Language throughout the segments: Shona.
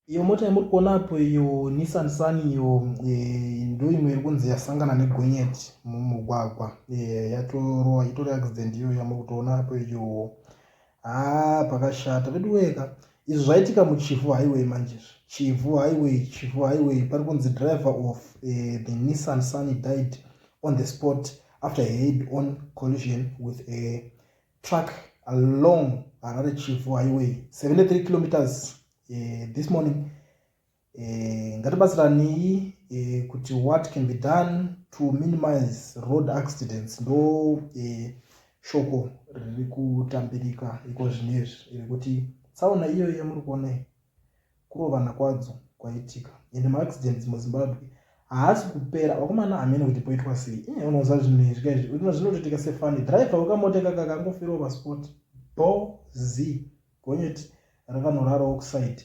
iyo mota yamuri kuona apo iyo nissan sun iyo eh, ndo imwe iri kunzi yasangana negonyeti mumugwagwa eh, yatorowa itori accident iyo yamuri kutoona apo iyo haa ah, pakashata veduweka izvi zvaitika muchivhu highway manje izvi chivhu highway chivhu highway pari kunzi driver of eh, the nissan sun died on the spot after head on collision with a truck along harare chivu highway 73 kilometers uh, this morning uh, ngatibatsiranei uh, kuti what can be done to minimize road accidents ndo uh, shoko riri kutambirika iko zvinezvi rekuti tsaona iyoyo yamuri kuonai kurovana kwadzo kwaitika ende maaccidents muzimbabwe haasi kupera vakomana hamene kuti poitwa sei iye unoza zvinhu izvi kaizvi uno zvinotoitika sefani driver wekamota ikaka kangofirwa pasport bo z gonyeti rakanorara oxide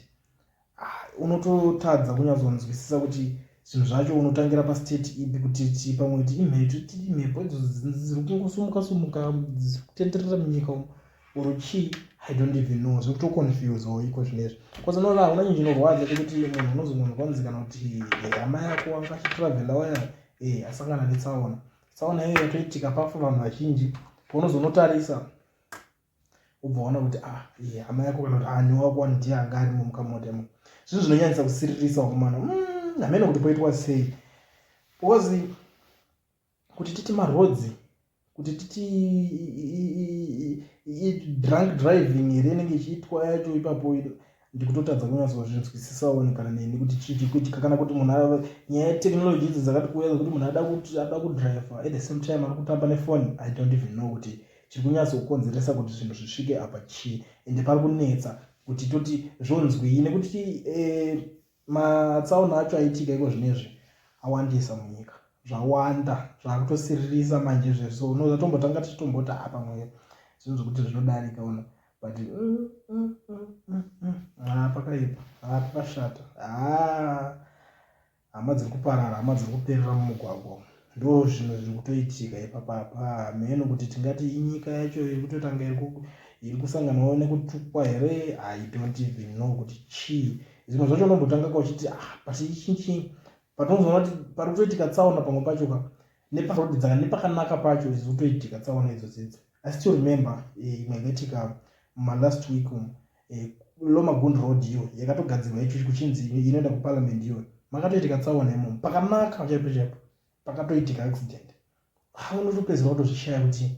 ah, unototadza kunyazonzwisisa kuti zvinhu zvacho unotangira pastate ipi kuti ti pamwe ti imhepo ti imhepo idzo dziri kungosumuka sumuka dziri kutenderera munyika umu or chii i don't even know zviri kutoconfuse or iko zvine izvi bcause unoona hauna nyi zvinorwadza tekuti munhu unozononzwa kwanzi kana kuti hama yako wanga achitravela waya e eh, asangana netsaona tsaona iyoyo yatoitika pafa vanhu vazhinji paunozonotarisa ubva waona kuti ah e hama yako kana kuti ani ah, wako wani ndiye anga arimo mukamotemo zvinhu zvinonyanyisa kusiririsa wakomana mm, hamene kuti poitwa sei bcause kuti titi marhodzi kuti titi drunk driving here inenge ichiitwa yacho ipapo ndikutotadza kunyatsozvinzwisisawo kana neni kuti chiti kuti kana kuti munhu ava nyaya yetechnology idzo dzakati kuuya dzekuti munhu ada kuti ada kudriver at the same time ari kutamba nefoni i don't even know kuti chiri kunyatsokukonzeresa kuti zvinhu zvisvike apa chii ende pari kunetsa kuti toti zvonzwii nekuti eh, Matsaona acho aitika iko zvinezvi awandisa munyika zvawanda zvakutosiririsa manje zveso uno zvatombotanga tichitomboti ha pamwe zvinhu zvekuti zvinodarika uno but mm, mm, mm, ha pakaipa ha pakashata ha hama dziri kuparara hama dziri kuperera mumugwagwa Ndozvinhu zviri kutoitika ipapa apa hameno kuti tingati inyika yacho iri kutotanga iri kusanganawo nekutukwa here i don't even know kuti chii zvimwe zvacho unombotanga ka uchiti ah but ichinchii but unozoona kuti pari kutoitika tsaona pamwe pacho ka neparoad dzanga nepakanaka pacho ziri kutoitika tsaona idzo dzidzo I still remember eh, imwe yakaitika malast week umu eh, lomagund road iyo yakatogadzirwa icho kuchinzi inoenda kuparliament iyo makatoitika tsaona imomo pakanaka chaipo chaipo pakatoitika accident ha unotopedzera kutozvishaya kuti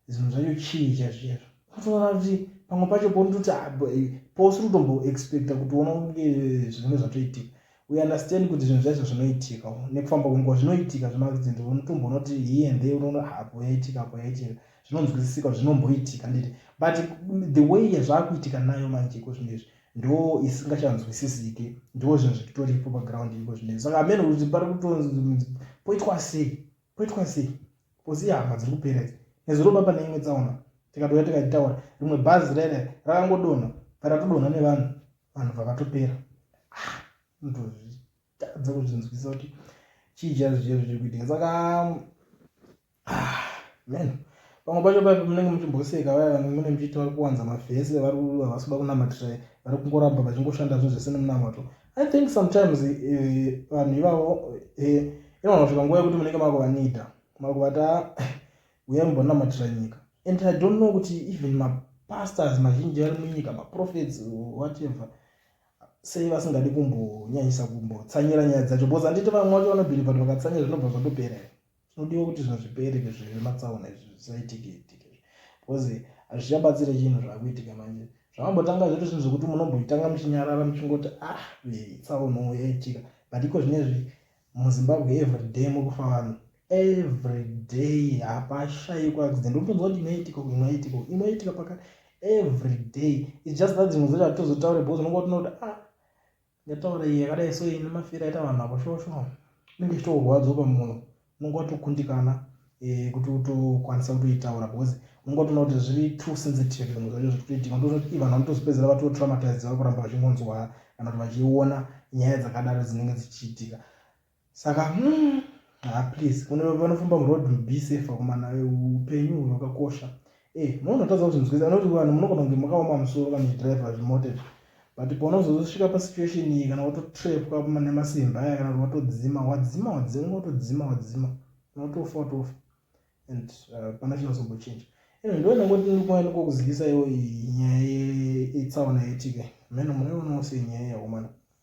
zvinhu zvacho chii chaizvizvo unotoona kuti pamwe pacho pounototi ah, eh, pousiri kutomboexpecta kutiona kunge eh, zvinenge zvatoitika we understand kuti zvinhu zvaizvo zvinoitika nekufamba kwenguva zvinoitika zvemaaccident unotumbo unoti hii and they unoona hapo ah, yaitika apo yaitika zvinonzwisisika kuti zvinomboitika nditi but the way yazvakuitika nayo manje iko zvinhu izvi ndo isingachanzwisisiki ndo zvinhu zvitoripo paground iko zvinhu izvi saka amene kuti pari kutonzi poitwa sei poitwa sei kosi ihama dziri kupera idzi nezuro baba neimwe tsaona tikadouya tikataura rimwe bhazi rere rakangodonha paratodonha nevanhu vanhu vakatopera ah, ndozvitadza kuzvinzwisa kuti chii chazi chezvo chiri kuitika saka ah, man pamwe pacho paipo munenge muchimboseka vaya vanenge mune muchiti vari kuwanza mavhese vari havasi kuda kunamatira vari kungoramba vachingoshanda zvinhu zvese nemunamato i think sometimes eh, vanhu ivavo eh, inoona kusvika nguva yekuti munenge makuvanida makuvata uya mbonamatira nyika and i don't know kuti even mapastors mazhinji ari munyika maprofets whatever sei vasingadi kumbonyanyisa kumbotsanyira nyaya dzacho because handiti vamwe vacho vanobhiribva kuti vakatsanyira zvinobva zvatopera here tinodiwa kuti zvinhu zvipere zvematsaona izvi zvisaitike itike because hazvichabatsire chinhu zvakuitika manje zvamambotanga zviri zvinhu zvekuti munombotanga muchinyarara muchingoti ah tsauno yaitika but iko zvinezvi muzimbabwe everyday mukufa vanhu everyday hapashaiko accident unotonzwa kuti inoitika inoitika inoitika pakati everyday its just that dzimwe dzacho hatizotaure because unonga utina kuti ah ndataura iye yakadai so ine mafira aita vanhu apo shosho inenge ichitorwadzopa munhu unonga watokundikana eh, kuti utokwanisa kutoitaura because unenge utoona kuti zviri too sensitive zvimwe zvacho zviri kutoitika ndozoti vanhu vanotozopedzera vatotraumatized vari kuramba vachingonzwa kana kuti vachiona nyaya dzakadaro dzinenge dzichiitika saka hmm, ha please vanofamba muroad be safe vakomana upenyu hwakakosha e eh, munotadza kuzvinzwisa anoti vanhu munogona kunge makaoma musoro kana zvidriva zvimote izvi but paunozozosvika pasituation iyi kana watotrepwa nemasimba aya kana kuti watodzima wadzima wadzima watodzima wadzima unotofa unotofa and uh, pana chinozombochinja anyway ndo ndangoti ndikuva ndikokuzivisa iwo nyaya yetsaona yaitika mheno munaiwonawo sei nyaya yaomana